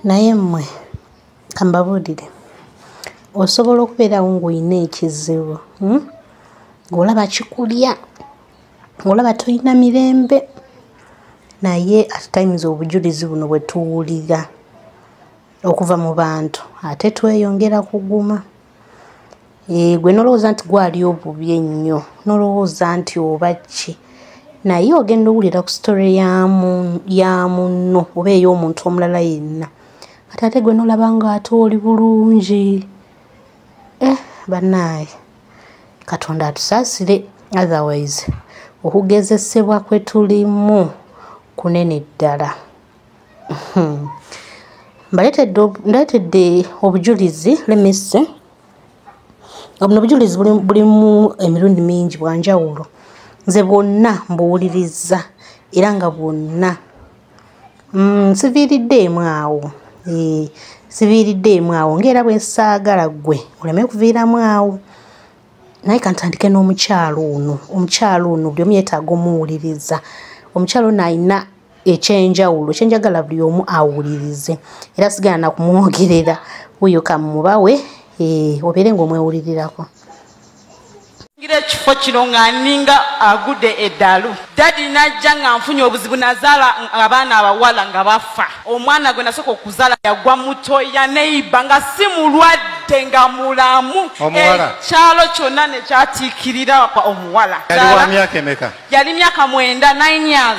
naye mmwe kambabuulire osobola okubeerawo ng'olina ekizibu hmm? ng'olaba kikulya ng'olaba tolina mirembe naye at times obujulizi buno bwe tuwulira okuva mu bantu ate tweyongera kuguma eh, gwe nolowooza nti gwali obubi ennyo nolowooza nti oba ki naye ogenda owulira ku sitore ya munno oba ey'omuntu omulala yenna kati ate gwe nolaba nga ate oli bulungi eh bannaaye katonda atusaasire otherwise okugezesebwa kwe tulimu kunene ddala hmm. mbaletedde obujulizi lemesse obuno obujulizi bulimu emirundi mingi bwanjawulo nze bwonna mbuwuliriza era nga bwonna mm, siviiridde emu awo eh, siviiridde emu awo ngaera bwe nsaagala ggwe oleme kuviiramu awo naye kantandike n'omukyalo ono omukyalo ono buli omu yetaaga omuwuliriza omukyalo ono alina ekyenjawulo kyenjagala buli omu awulirize era sigala nakumwogerera wuyo kamubawe eh, obeere ngaomwewulirirako ngira ekifo kino nga ninga agude eddalu dadi najja nga nfunye obuzibu nazaala abaana abawala nga bafa omwana gwe nasooka okuzaala yagwa mutoya neiba nga si mulwadde ate nga mulamu ekyalo kyonna nekyatiikirira omuwala yali myaka mwenda 9 years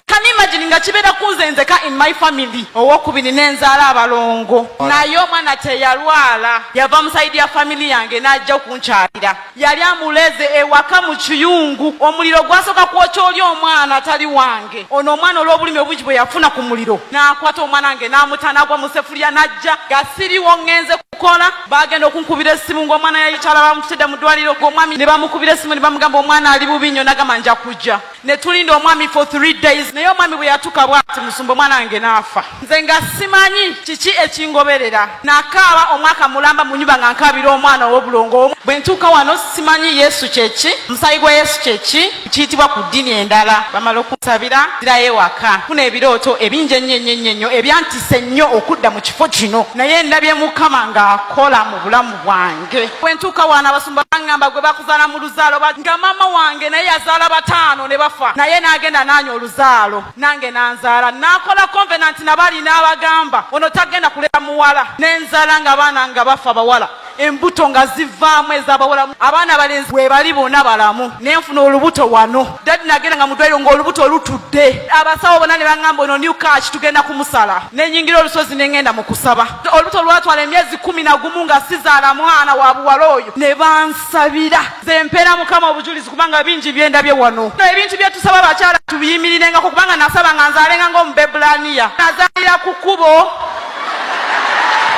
can imagine nga kibeera kunze nzeka in my family owokubiri nenzaala abalongo naye omwana teyalwala yava musaidi ya family yange najja okunkyalira yali amuleze ewaka mu kiyungu omuliro gwasooka kwokya oli omwana atali wange ono omwana olwobulumi obungi bwe yafuna ku muliro nakwata omwana wange namutanagwa musefulya najja gasiriwo ngenze kola bagenda okunkubira esimu ngaomwana yayitala bamututedde mu ddwaliro gweomwami ne bamukubira esimu ne bamugamba omwana ali bubi nnyo nagamba nja kujja ne tulinda omwami for three days naye omwami bwe yatuka bwati musumba omwana wange naafa nze nga simanyi kiki ekingoberera nakaaba omwaka mulamba mu nyumba nga nkaabira omwana ow'obulongo omu bwe ntuuka wano simanyi yesu kyeki omusayi gwa yesu kyeki kiyitibwa ku ddini endala bamala okusabira zirayo ewaka funa ebirooto ebingi ennyo ennyo ennyo ennyo ebyantise nnyo okudda mu kifo kino naye ndabye mukama ng'akola mu bulamu bwange bwentuuka waana abasumba baŋŋamba gwe bakuzaala mu luzaalo nga maama wange naye yazaala bataano ne bafa naye n'agenda naanya oluzaalo nange nanzaala nakola konvenanti nabalina abagamba ono tagenda kulera muwala nenzala nga baana nga bafa bawala embuto nga zivaamu ezabawolamu abaana balenzi webali bona balamu nenfuna olubuto wano dadi nagenda nga mudwairo ngaolubuto olutudde abasawo bona nebaŋamba ono new kach tugenda kumusala nenyingira olusozi nengenda mukusaba olubuto lwatwala emyezi kumi nagumu nga sizaala mwana wa buwala oyo nebansabira zempeera mukama obujulizi kubanga bingi byendabye wano ebintu byetusaba bakyala tubiyimirirengako kubanga nasaba nga nzalenga ngaomubebulaniya nazalira ku kubo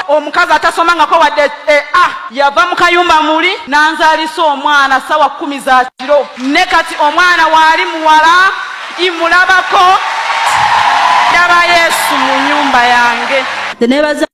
omukazi atasomangako wadde e eh, a ah, yava mu kayumba muli nanzalisa omwana sawa kumi za kiro ne kati omwana waali muwala imulabako ndaba yesu mu nyumba yange nebaza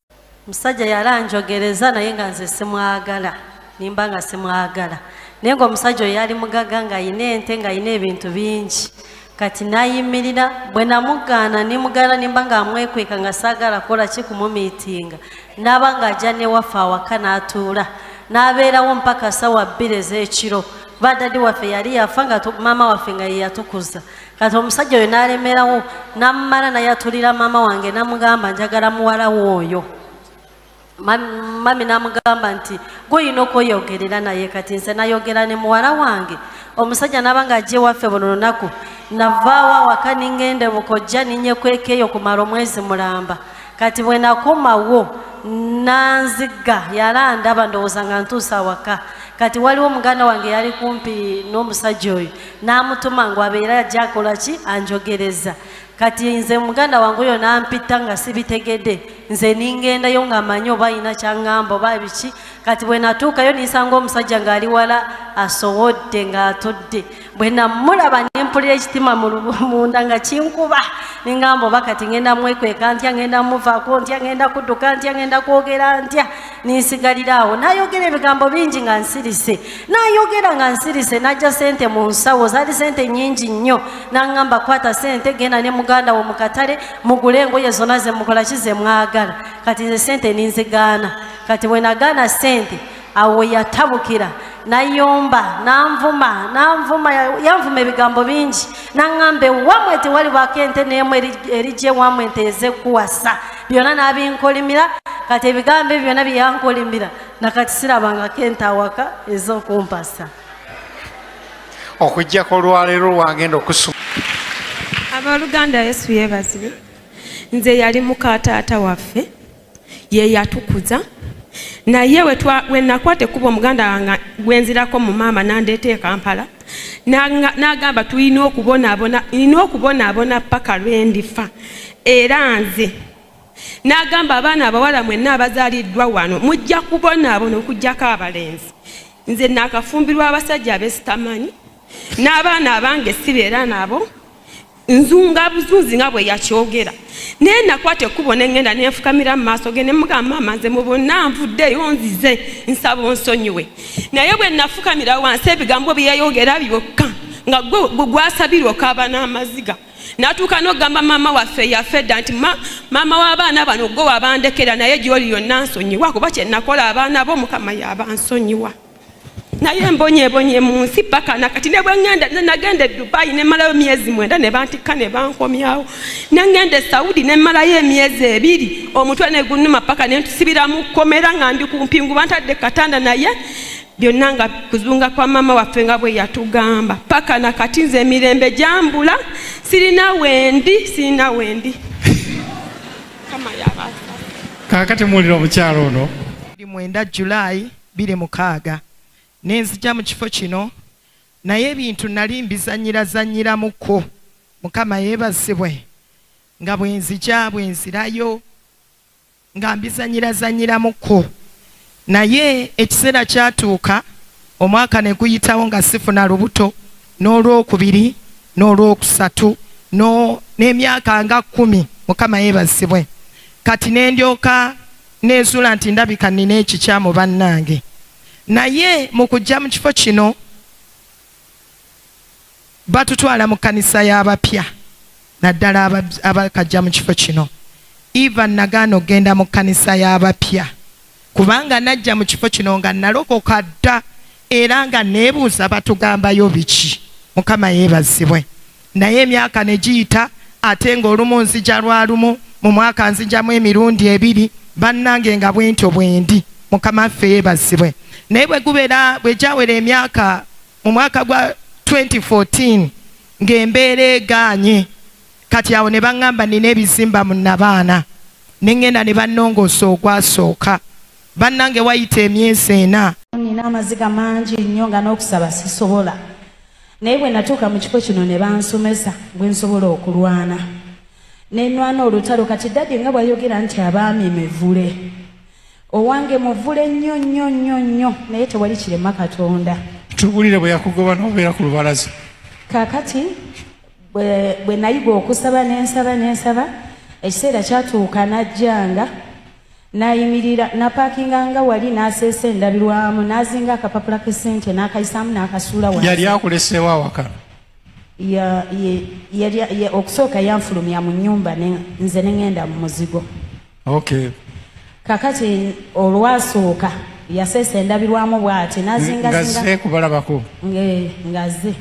musajja yali anjogereza naye nga nze simwagala nimba nga simwagala naye nga omusajja oyo yali mugaga nga ayina ente nga ayina ebintu bingi kati nayimirira bwe namugaana nimugaana nimba nga amwekweka nga saagala kola ki kumumiitinga naaba nga ajja newaffe awaka n'atuula n'abeerawo mpaka sawa bbiri ez'ekiro kuba dadi waffe yali yafa nga maama waffe nga yeyatukuza kati omusajja oyo n'alemerawo namumala naye atulira maama wange namugamba njagala muwalawo oyo mami namugamba nti gweolina okweyogerera naye kati nze nayogera ne muwala wange omusajja naba nga ajja ewaffe buno lunaku navaawo awaka ningende bukojja ninyekwekeeyo kumala omwezi mulamba kati bwenakomawo nanziga yala ndaba ndowooza nga ntuusa awaka kati waliwo muganda wange yali kumpi n'omusajja oyo namutuma ngu abeera ajja akola ki anjogereza kati nze muganda wange oyo nampita nga sibitegede nze ningendayo nga manyi oba alina kyaŋŋamba oba biki kati bwe natuukayo ninsanga omusajja ng'ali wala asowodde ng'atudde bwe namulaba nempulira ekitima munda nga kinkuba ningamba oba kati ngenda mwekweka ntya ngenda muvako ntya ngenda kudduka ntya ngenda kwogera ntya ninsigalira awo nayogera ebigambo bingi nga nsirise nayogera nga nsirise najja sente mu nsawo zaali sente nyingi nnyo nangamba kwata sente genda ne muganda wo mukatale mugule engoye zona zemukola ki zemwagala kati nze sente ninzigaana kati wenagaana sente awo yatabukira nayomba nanvuma nanvuma yanvuma ebigambo bingi naŋŋamba ewamwe tewalibako ente neemu erigye ewamwe ente ezekuwasa byonna nabinkolimira kati ebigambo ebyo byonna byeyankolimira nakati sirabangako ente awaka ez'okumpasa okujjako olwaleero lwagenda okusuma abooluganda yesu yeebazire nze yali muka taata waffe ye yatukuza naye wenakwata ekuba omuganda wange gwenzirako mu maama nandeeta ekampala nagamba tulina okubonaabona nina okubonaabona paka lwendifa era nze n'agamba abaana abawala mwenna abazaaliddwa wano mujja kubonaabona okugyako abalenzi nze naakafumbirwa abasajja abesitamanyi n'abaana abange sibeera nabo nzunga buzunzi nga bwe yakyogera naye nakwata ekkubo ne ŋŋenda ne nfukamira mu maaso ge ne mugamba maama nze mu bonna nvuddeyo nzize nsaba onsonyiwe naye bwe nafukamira wansi ebigambo bye yayogera byokka nga gwe gwasabirwa okaaba n'amaziga natuuka n'okugamba maama waffe eyafa edda nti maama w'abaana bano gwe wabandekera naye gyoli yonna nsonyiwa kuba kye nakola abaana bo mukama yabansonyiwa naye embonyebonye mu nsi paka nakati ne bwengenda nagenda e dubayi ne malayo myezi mwenda ne bantikka ne bankomyawo ne ngenda e saudi ne malayo emyezi ebiri omutwe ne gunuma paka ne ntusibira mu kkomera nga ndi ku mpingu bantadde katanda naye byonna nga kuzunga kwa maama waffe nga bwe yatugamba paka na kati nze emirembe gyambula sirina wendi sirina wendi kakati muwulira omukyalo ono buli mwenda julayi biri mukaaga nenzija mu kifo kino naye ebintu nali mbizanyirazanyiramuko mukama yebazibwe nga bwenzija bwenzirayo nga mbizanyirazanyiramuko naye ekiseera kyatuuka omwaka ne guyitawo nga sifuna lubuto n'olwokubiri n'olwokusatu n'emyaka nga kkumi mukama yeebazibwe kati ne ndyoka neezuula nti ndabika nnina ekikyamu bannange naye mu kujja mu kifo kino batutwala mu kkanisa y'abapya naddala abakajja mu kifo kino eva nagaana okugenda mu kkanisa y'abapya kubanga najja mu kifo kino nga nalokoka dda era nga neebuuza batugambayo biki mukama yeebazibwe naye emyaka ne giyita ate ng'olumu nzija lwa lumu mu mwaka nzijamu emirundi ebiri bannange nga bwentyo bwendi mukama ffe yeebazibwe naye bwe gubeera bwe gyawera emyaka mu mwaka gwa 2014 ng'embeera egaanye kati awo ne baŋŋamba nina ebizimba mu nabaana ne ŋŋenda ne bannongoosa ogwasooka bannange wayita emyezi ena nina amaziga mangi nnyo nga n'okusaba sisobola naye bwe natuuka mu kifo kino ne bansomesa bwe nsobola okulwana nenwana olutalo kati dadi nga bwayogera nti abaami mivule owange muvule nnyo nnyo nnyo nnyo naye tewali kirema katonda tubulire bwe yakugoba n'obeera ku lubalaza kakati bwe nayiga okusaba nensaba nensaba ekiseera kyatuuka najjanga N'ayimirira, n'apaakinga nga wali, n'aseesa endabirwamu, n'azinga akapapula k'essente, n'akayisaamu, n'akasuula wansi. Yali akuleseewo awaka? Ya, ye, yali, ye, okusooka yanfulumya mu nnyumba ne, nze ne ŋenda mu muzigo. Okay. Kakati olwasooka yaseesa endabirwamu bw'ati, n'azingazinga. Ng'azze kubalabako? Ng'e, ng'azze.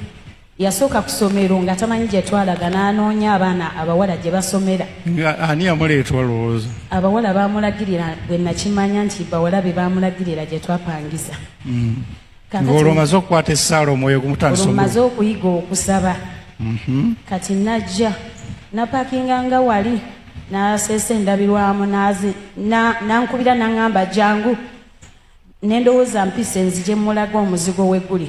Yasooka ku somero nga tamanyi gye twalaga n'anoonya abaana abawala gye basomera. Nga ani yamuleeta olowooza? Abawala baamulagirira bwe nakimanya nti bawala be baamulagirira gye twapangisa. Mm. Ng'olwo omaze okukwata essaala omwoyo gumutandisa omu. Omaze okuyiga okusaba. Mm-hmm. Kati najja napakinga nga wali n'aseesa endabirwamu n'azi n'ankubira n'aŋŋamba jangu. nendowoza mpise nzije mulaga omuzigo weguli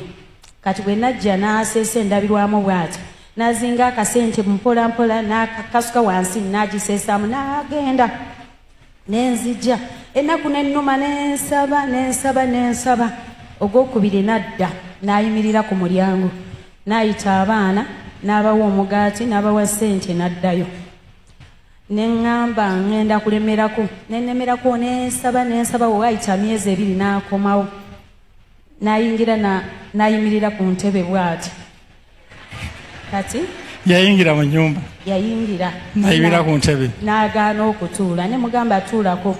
kati bwe najja n'aseesa endabirwamu bwati nazinga akasente mpolampola nakasuka wansi nagiseesaamu n'agenda nenzija ennaku nennuma nensaba nensaba nensaba ogwokubiri nadda n'ayimirira ku mulyango n'ayita abaana n'abawa omugaati n'abawa ssente n'addayo ne ŋŋamba ŋŋenda kulemerako ne nnemerako ne nsaba ne nsaba we waayita myezi ebiri n'akomawo n'ayingira n'ayimirira ku ntebe bw'ati kati yayingira mu nyumba yayingira nayibira ku ntebe n'agaana okutuula ne mugamba atuulako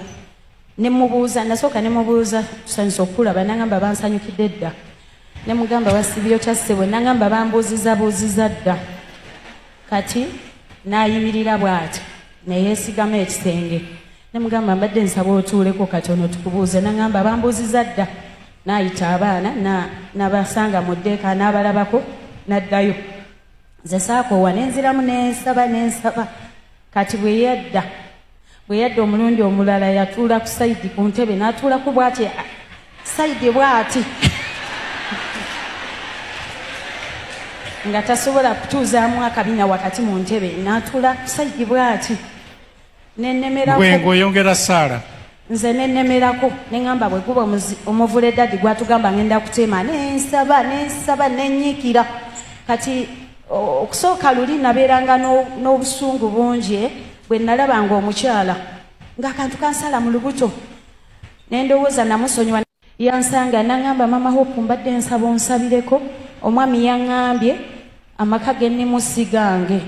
ne mubuuza nasooka ne mubuuza tusanyusa okukulaba nangamba bansanyukidde dda ne mugamba wasibyo kyassebwe nangamba bambuuziza buuziza dda kati n'ayimirira bw'ati ne yeesigama ekisenge ne mugamba mbadde nsaba otuuleko katono tukubuuze nangamba bambuuziza dda n'ayita abaana nabasanga mu ddeeka n'abalabako n'addayo nze saakoowa ne nziramu ne nsaba ne nsaba kati bwe yadda bwe yadda omulundi omulala yatuula ku sayidi ku ntebe n'atuulako bw'ati sayidi bw'ati nga tasobola kutuuzaamu akabina wakati mu ntebe n'atuula ku sayidi bw'ati nenemeragwengo oyongera saala nze nenemerako neŋamba bwe guba omuvule dadi gwatugamba ngenda kuteema nensaba nensaba nenyiikira kati okusooka luli nabeeranga n'obusungu bungi eh, bwe nalabanga omukyala ng'akantu kansala mu lubuto nendowooza namusonyiwa yansanga nangamba mama hope mbadde nsaba onsabireko omwami yangambye amaka ge nemusigange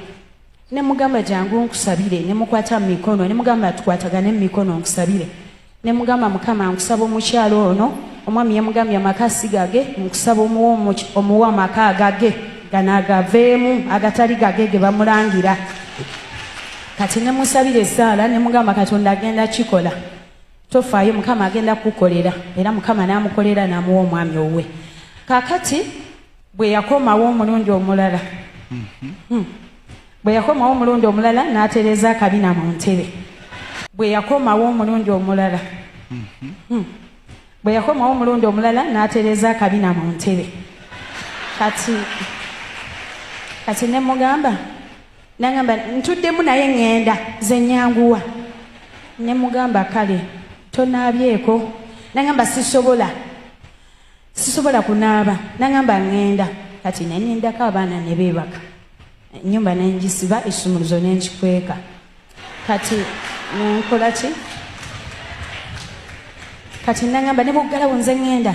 nemugamba jangu nkusabire nemukwata mumikono nemugamba tukwatagane mumikono nkusabire Nemugamba mukama nkusaba omukyalo ono omwami yamugambye amaka sigage nkusaba omuwa omuwa amaka agage ganagaveemu agatali gage ge bamulangira kati nemusabira esaala nemugamba katonda agenda kikola tofaayo mukama agenda kukukolera era mukama namukolera namuwa omwami owuwe kakati bwe yakomawo omulundi omulala mhm. hmm. Bwe yakomawo omulundi omulala n'atereeza akabina mu ntebe. Bwe yakomawo omulundi omulala. Mhm. Hmm. Bwe yakomawo omulundi omulala n'atereeza akabina mu ntebe. Kati kati ne mugamba nangamba ntuddemu naye ŋŋenda ze nyanguwa ne mugamba kale tonaabyeko nangamba sisobola sisobola kunaaba nangamba ŋŋenda kati ne nindako abaana ne beebaka ennyumba ne ngisiba ekisumuluzo ne nkikweka kati nkola ki kati nangamba ne bwoggalawo nze ŋŋenda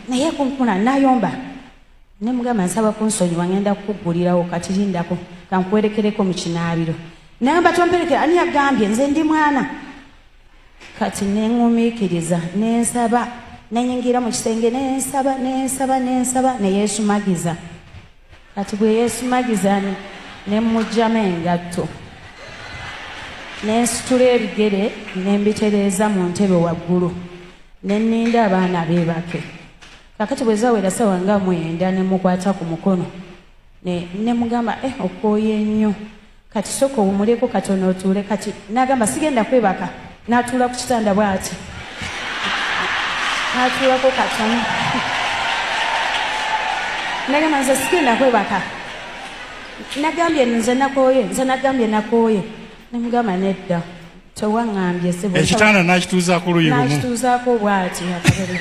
naye kunkuna nayomba ne mugamba nsaba kunsonyiwa ŋenda kukuggulirawo kati lindako kankuwerekereko mu kinaabiro nayomba tomperekera ani yagambye nze ndi mwana kati neŋumiikiriza nensaba nenyingira mu kisenge nensaba nensaba nensaba neyesumagiza ne kati bwe yeesumagizani ne mmugyamu engatto ne nsitula ebigere ne mbitereeza mu ntebe waggulu ne nninda abaana beebake kakati bwe zawera sawa nga mwenda ne mukwata ku mukono ne mugamba eh okwoye nnyo Kati soka owumuleko katono otuule kati nagamba sigenda kwebaka natuula ku kitanda bwati natuulako katono nagamba nze sigenda kwebaka nagambye nze nakooye nze nagambye nakooye namugamba nedda tewaŋambye sebo ekitanda nakituuza ku luyi lumuakituuzaako obwati akabere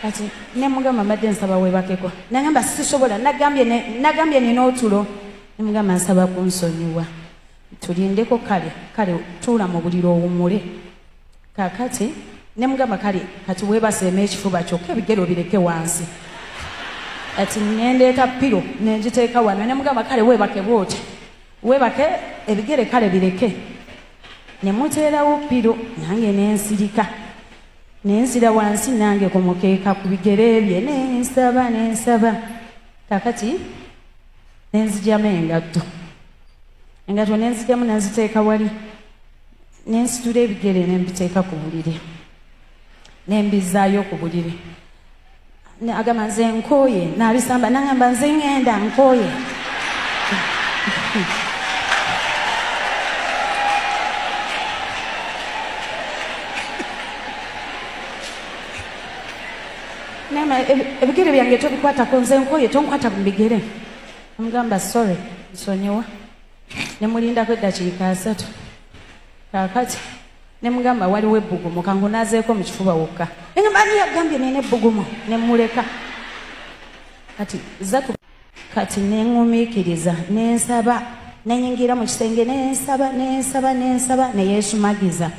kati nemugamba mbadde nsaba webakeko nagamba sisobola nagambye nina otulo nemugamba nsaba kunsonyiwa tulindeko kale kale tuula mu buliro owumule kakati nemugamba kale kati webaseema ekifuba kyokka ebigero bireke wansi kati nendeeta piro nengiteeka wano nemugamba kale webakebwa otya Webake ebigere kale bireke nemuteerawo piro nange nensirika nensira wansi nange ku mukeeka ku bigere bye nensaba nensaba kakati nenzijamu engatto engatto nenzijamu nenziteeka wali nensitula ebigere nembiteeka ku buliri nembizaayo ku buliri agamba nze nkooye nabisamba nangamba nze ŋŋenda nkooye nama ebigere byange tobikwatako nze nkooye tonkwata ku bigere amugamba sorry nsonyiwa ne mulindako eddakiika asatu kaakati ne mugamba waliwo ebbugumu kangunazeeko mu kifuba wokka enyumani yagambye nina ebbugumu ne muleka kati zatu kati neŋumiikiriza nensaba nenyingira mu kisenge nensaba nensaba nensaba neyesumagiza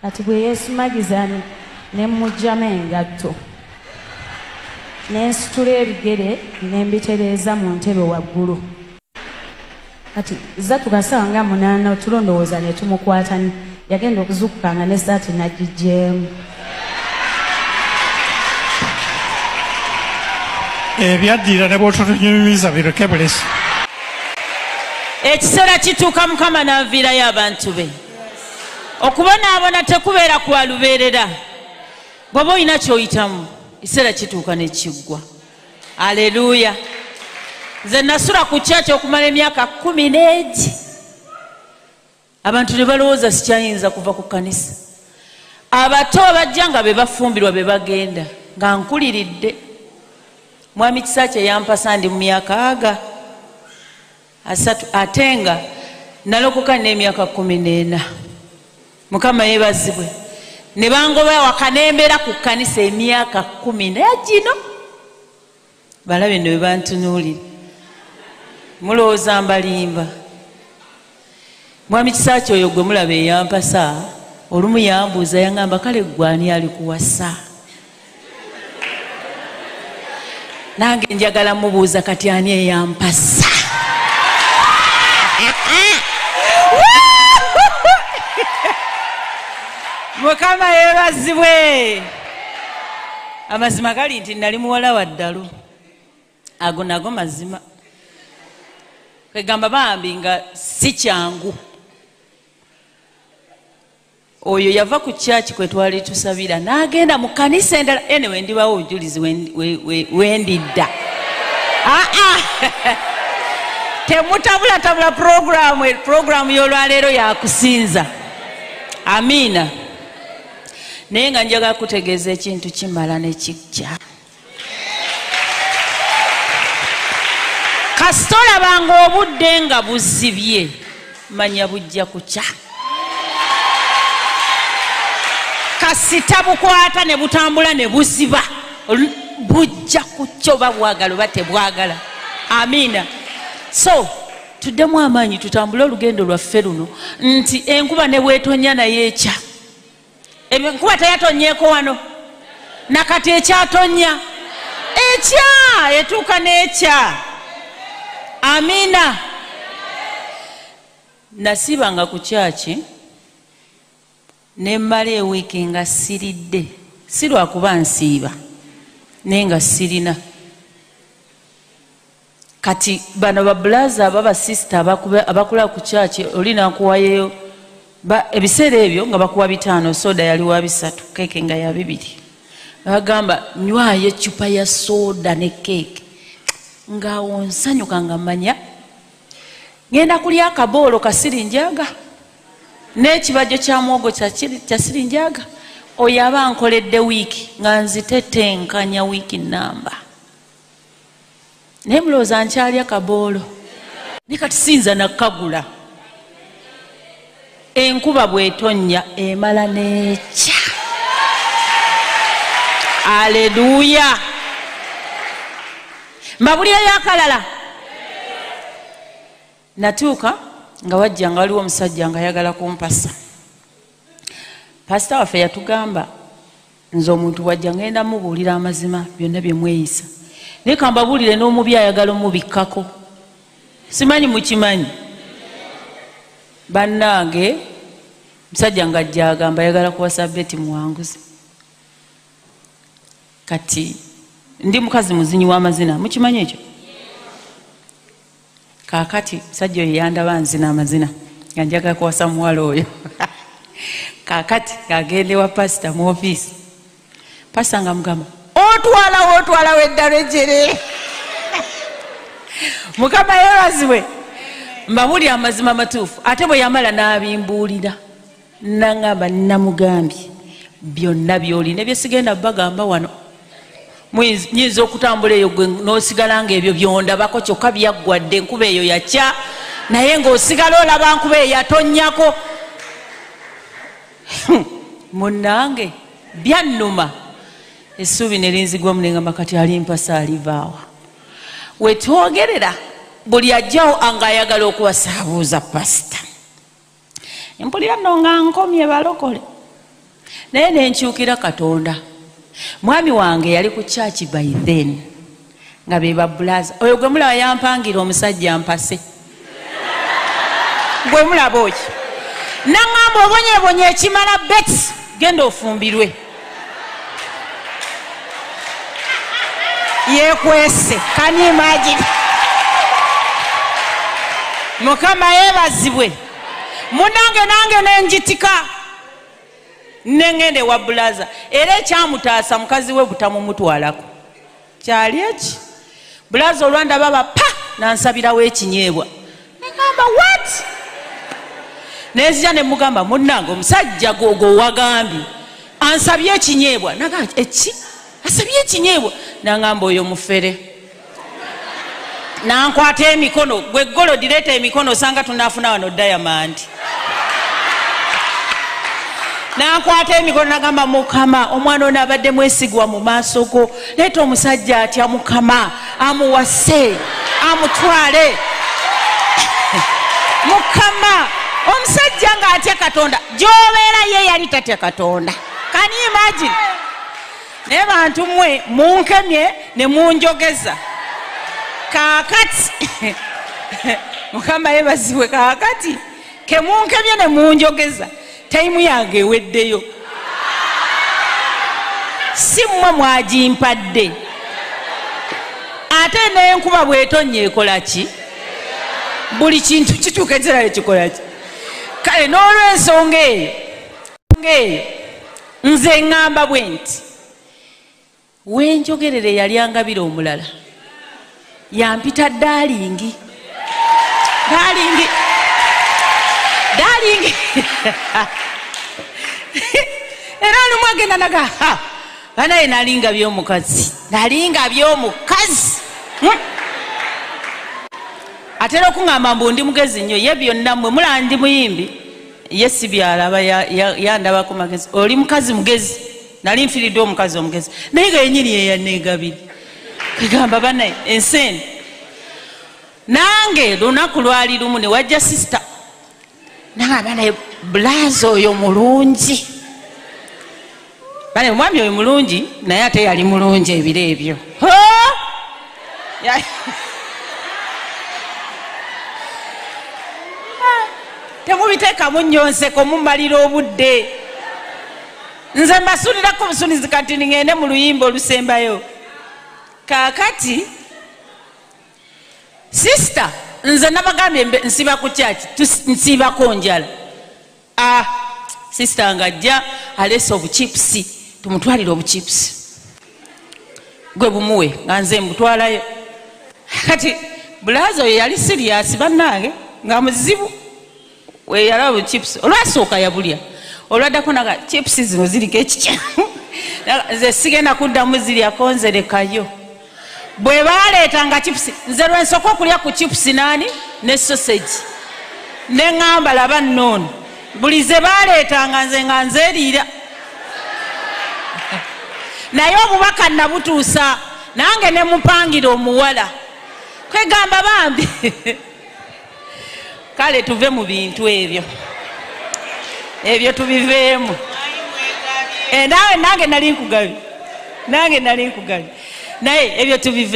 kati bwe yesumagiza ne mujjama engatto nensitula ebigere nembitereeza mu ntebe waggulu kati zatuka saawa nga munaana otulo ndowooza ne tumukwatani yagenda okuzukuka nga ne saati nagigyemu ebyaddira ne bwotutunyumiza bireke bulesi ekiseera kituuka mukama n'aviirayo abantu be okubonaabona tekubeera kwa lubeerera bw'oba olina ky'oyitamu ekiseera kituuka ne kiggwa aleluya nze nasula ku kyaki okumala emyaka kumi n'egi abantu ne balowooza sikyayinza kuva ku kanisa abato abajja nga be bafumbirwa be bagenda nga nkuliridde mwami kisa kye yampasa ndi mu myaka aga asatu ate nga nalokoka n'emyaka kumi n'ena mukama yebazibwe ne bangoba awaka nembeera ku kkanisa emyaka kumi naye gino balabe no bebantunuulira mulowooza mbalimba mwami kisa kyoyo gwe mulaba eyampasa olumu yambuuza yangamba kale gwani alikuwasa nange njagala mubuuza kati ani eyampasa mukama yebazibwe amazima gali nti nali muwala wa ddalu ago nago mazima kwegamba bambi nga si kyangu oyo yava ku kyaki kwe twali tusabira n'agenda mu kanisa endala ene wendibawo obujulizi wendidda aa ah, ah. temutabulatabula puroguramu puroguramu y'olwaleero yakusinza amiina naye nga njagala kutegeeza ekintu kimala nekikya kasita olabanga obudde nga buzibye manya bujja kukya kasita bukwata ne butambula ne buziba bujja kukya oba bwagala oba tebwagala amiina so tuddemu amaanyi tutambule olugendo lwaffe luno nti enkuba ne bwetonya naye ekya enkuba teyatonyeeko wano nakati ekyatonya ekya etuuka n'ekya amiina nasiibanga ku kyaki ne mmala ewiiki nga siridde si lwakuba nsiiba naye nga sirina Kati bano ba blaza aba ba sister abakula ku church oli nakuwayeyo ba ebiseera ebyo nga bakuwa bitaano soda yali wa bisatu keeke nga ya bibiri bagamba nywayo eccupa ya soda ne keeke nga wonsanyuka nga manya ngenda kulya akaboolo kasiri njaga n'ekibajjo kya mwogo kyasiri njaga oyo aba nkoledde wiiki nga nzitetenkanya wiiki namba naye mulowooza nkyalya kaboolo ne kati siyinza nakagula enkuba bwetonnya emala nekya aleluya mbabulira yakalala natuuka nga wajja nga waliwo omusajja nga ayagala kumpasa pasita waffe yatugamba nze omuntu bwajja ngenda mubuulira amazima byonna bye mweyisa naye kambabuulire n'omubi ayagala omubikkako simanyi mukimanyi bannange musajja nga jjagamba ayagala kuwasa beti muwanguzi kati ndi mukazi muzinyi w'amazina mukimanyi ekyo kakati musajja oyo yandaba nzina amazina nga njaga kuwasa muwala oyo kakati ng'agenda ewa pasita mu ofiisi pasita nga mugamba otwalawo otwalawo eddalo ejere mukama yebazibwe mbabuli amazima matuufu ate bwe yamala n'abimbuulira nangamba namugambye byonna byoli ne byesigenda bagamba wano nyinza okutambula eyo gwe nosigala nga ebyo byondabako kyokka byaggwadde enkuba eyo yakya naye ngaosigala olaba nkuba eyo yatonyako hmm. munange byannuma essuubi ne linzigwa munengamba kati alimpasa alivaawa wetwogerera buli ajjawo anga ayagala okuwasaabuuza pasita mpulira no nga nkomye balokole naye nenkyukira katonda mwami wange yali ku kyaki by then nga bebabulaza oyo gwe mulaba yampangira omusajja mpase gwe mulaba oki naŋamba obonyebonye ekimala bet genda ofumbirwe yekwese can you imagine mukama yebazibwe munange nange nenjitika nengende wa bulaza era ekyamutaasa mukazi we butamumutwalako kyali eki bulazi olwandaba ba pa nansabirawo ekinyeebwa negamba wat nenzija nemugamba munange omusajja gwogowagambye ansabye ekinyeebwa naga eki asabye ekinyeebwa nangamba oyo mufere nankwata emikono gwe golo direeta emikono osanga tunafuna wano dayamandi nakwata emikono nagamba mukama omwana ono abadde mwesigwa mu maaso go leeta omusajja atya mukama amuwase amutwale mukama omusajja nga atya katonda gyobeera ye yali tatya katonda kani imagine naye bantu mwe munkemye ne munjogeza kakati mukama yebaziwe kakati kemunkemye ne munjogeza tayimu yange eweddeyo si mmwe mwagimpadde ate nenkuba bwetonnya ekola ki buli kintu kituuka ekirala ekikola ki kale n'olwensonga eyo nze ŋŋamba bwe nti wenjogerera eyali angabira omulala yampita dalingi dalingi dalingi era lumu agenda naga banaye nalinga byomukazi nalinga byomukazi hmm? atera okuŋamba mbu ndi mugezi nnyo ye byonna mwe mulandi muyimbi ye sibyalaba yandabako magezi oli mukazi mugezi nali nfiridde omukazi omugezi naye nga yenyini yeyanegabiri kagamba banaye ensi eno nange lunaku lwali lumu newajja sisita nanga banaye bulaza oyo mulungi banaye omwami oyo mulungi naye ate yali mulungi ebiro ebyo temubiteekamu nyonseko mumalira obudde nze mbasulirako obusunizi kati ningende mu luyimba olusembayo kakati sisita nze nabagambye nsiba ku kyaki nsiibako njala a ah, sisita nga ajja aleese obuchipusi tumutwalire obuchipusi gwe bumuwe nga nze mbutwalayo kati bulaza oyo yali siriyasi bannange nga muzibu weyalaba chips olwasooka yabulya olwaddako naga chips zino ziriko ekikyamu nze sigenda kuddamu ziryako nzerekayo bwe baleeta nga chips nze lwensooka okulya ku chips naani ne sosegi ne ŋamba laba noono buli ze baleetanga nze nga nzeriira naye obubaka nabutuusa nange ne mupangira omuwala kwegamba bambi kale tuve mu bintu ebyo ebyo tubiveemu eh, naawe nange nali nkugabi nange nali nkugabi naye ebyo tubive